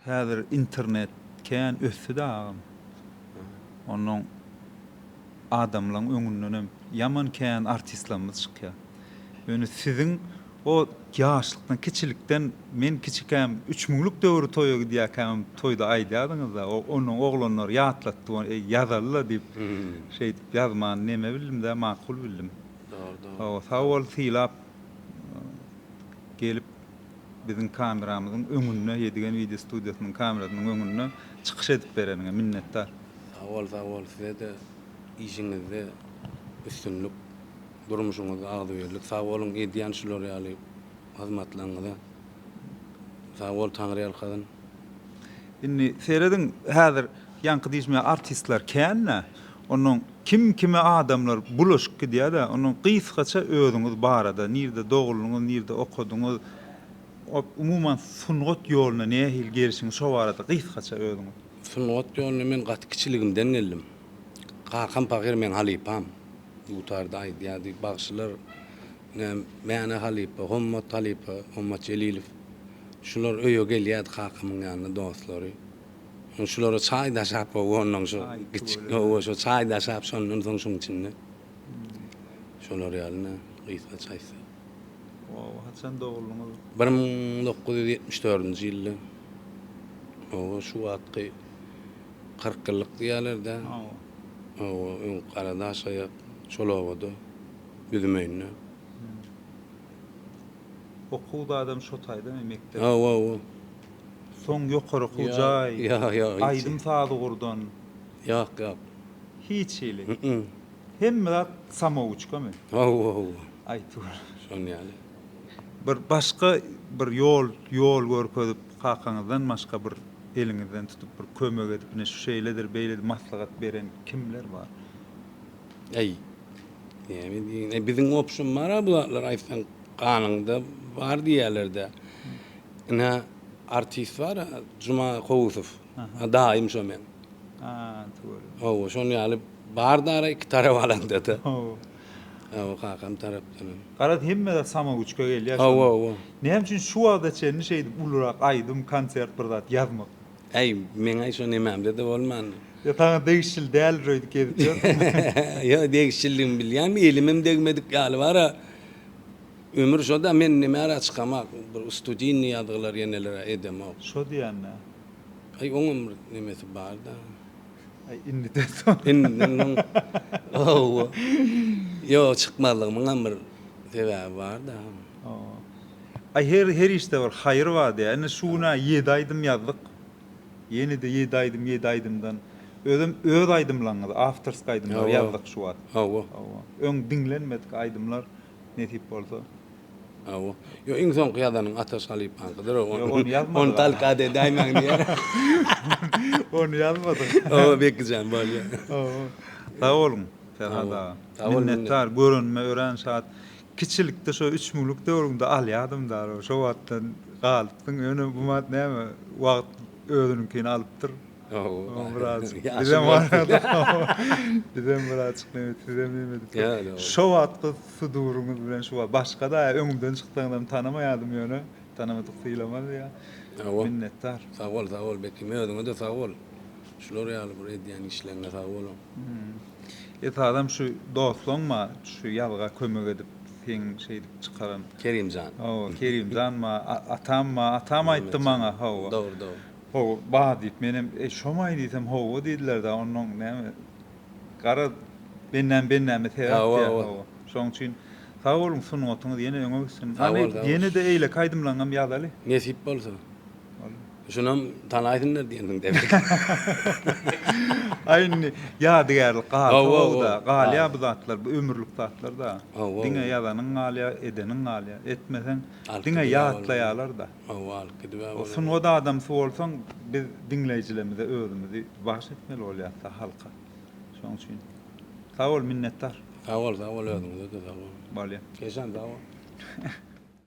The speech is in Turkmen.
Häzir internet kän ösdüdä agam. Onnoň adamlaň öňündenem ýaman kän artistlarymyz çykýar. Ýöne siziň o ýaşlykdan kiçilikden men kiçikäm üç müňlük döwri toýa gidýäkämem toýda aýdýadyňyzda o onnoň oglanlar ýatlatdy ony eý ýazalyla diýip şeýdip ýazmany neme bildimdä makul bildim. Dogry dogry. Hawa sag bol sylap gelip. biziň kameramyzyň öňünde, Ýedigen wideo studiýasynyň kamerasynyň öňünde çykyş edip bereniňe minnetdar. Sag bol sag bol sizede işiňizde üstünlik durmuşyňyzda agzybirlik sag boluň edýän şular ýaly hyzmatlaryňyza sag bol taňry ýalkasyn. Indi serediň häzir ýaňky diýişmä artistler kän-dä. Onnoň kim kime adamlar bulaşyp gidýädä onnoň gysgaça özüňiz barada nirde doguldyňyz nirde okadyňyz ot umuman sungat ýoluna nähili gelişiňiz şo barada gysgaça özüňiz. Sungat ýoluna men gaty kiçiligimden geldim. Kakam pahyr meň halypam. Dutarda aýdýardy. Bagşylar ine Mäne halypa, Hommat halypa, Hommat Jelilow. Şular öýe gelýärdi kakamyň ýanyna dostlary. Soň şulara çaý daşap gowanlaň şu kiçik gowa şu çaý daşap şondan soň şuň içinde şolar ýalyna gysga çaýsa. Gowa haçan doguldyňyz? Bir müň dokuz ýüz ýetmiş dördünji ýylda. Gowa şu wagtky kyrk ýyllyk diýýälerdä. Hawa. Gowa öň Garadaşaýak şol obada üzüm öýünde. Okuw zadam şo taýdamy mekdep? Hawa, hawa. Soň ýokary okuw jaý, aýdym sazy gurdan? Ýok, ýok. Hiç hili. Hemme zat samouçkamy? Hawa, hawa. Aýtgür. Şonuň ýaly. Bir başga bir ýol, ýol görkezip, kakaňyzdan başga bir eliňizden tutup, bir kömek edip, ine şu şeýledir, beýledir maslahat beren kimler bar? Äý. Näme diýiň, biziň obşym bar-a bu zatlar aýtsaň ganyňda bar diýýärler-dä. Ine artist bar Juma Kowusow. Daýym şo meň. Ha, tüweleme. Hawa, şonuň ýaly bar dara iki tarap alanda-da. Hawa. Hawa, kakam tarapdanam. Garaz, hemme-de samawuçka gelýär. Hawa, hawa. Näme üçin şu wagta çenli şeýdip ulurak aýdym, konsert bir zat ýazmak? Äý, meň-ä şo nemämde-de bolmandyr. Ýa saňa degişli däldir öýdüp gezip ýörsiň? Ýok, degişliligimi bilýän, elimem degmedik ýaly bar-a. Ömür şoda men nimärä çykamak bir ustudinni ýazgylar ýenelerä edemok. Şo diýändä. Aý oňam bir nemesi barda. Aý indiden soň. Indiden soň owo. Ýok çykmazlygymyňam bir sebäbi barda. Owo. Aý her her işde bir haýyr bar diýä. Indi şu günä ýedi aýdym ýazdyk. Ýenede ýedi aýdym ýedi aýdymdan özem öz aýdymlaňyzy awtorsk aýdymlar ýazdyk şu wagt. Owo. Owo. Öň diňlenmedik aýdymlar nesip bolsa. Hawa. Ýok, iň soňky ýazanyň Ataş halypaňkydyr. Ýok, ony ýazmadyk. Ony talkada edäýmäň diýýär. Ony ýazmadyk. Hawa, Beki jan, bolýar. Hawa. Sag boluň, Perhat aga. Minnetdar, görenime örän şat. Kiçilikde şo üç müňlük döwrüňde alýardym dal, şo wagtdan galypsyň. Ýöne bu wagt näme, wagt özüniňkini alypdyr. Ooo, biraz. Bizem barada. Bizem birazjyk nebet, sizem nebet. Şo wagtky suduryňyz bilen şu wagt başga-da öňümden çyksaňyzam tanamaýadym ýöne, tanamadyk sylamaz ýa. Minnetdar. Sag bol, sag bol Bekim, özüňe-de sag bol. Şular ýaly bir edýän işleňe sag boluň. Esasam şu doslaň ma şu ýazga kömek edip, seň şeýdip çykaran. Kerimjan. Hawa, Kerimjan ma, atam ma, atam aýtdy maňa, hawa. Dogry, dogry. Hawa, bar, diýip, menem, Eý, şomaý diýsem, hawa diýdiler-dä, onnoň näme, gara bennäm-bennäme sebäp diýýär, hawa. Şoň üçin sag boluň, sungatyňyz ýene öňe gitsin. Hany, ýene-de eýleki aýdymlaňam ýazaly. Nesip bolsa. Boldy. Şunam tanaýsynlar diýensiň demek. Aý, indi ýadygärlik galsa-ow-da, galýa bu zatlar, bu ömürlik zatlar-da. Diňe ýazanyň galýa, edeniň galýa. Etmeseň, diňe ýatlaýarlar-da. Hawa sungat adamsy bolsaň biz diňleýjilerimize özümizi bagyş etmeli bolýasda halka şoň üçin sag bol minnetdar. Sag bol sag bol özüňize-de sag boluň. Bolýa. Esan sag bol.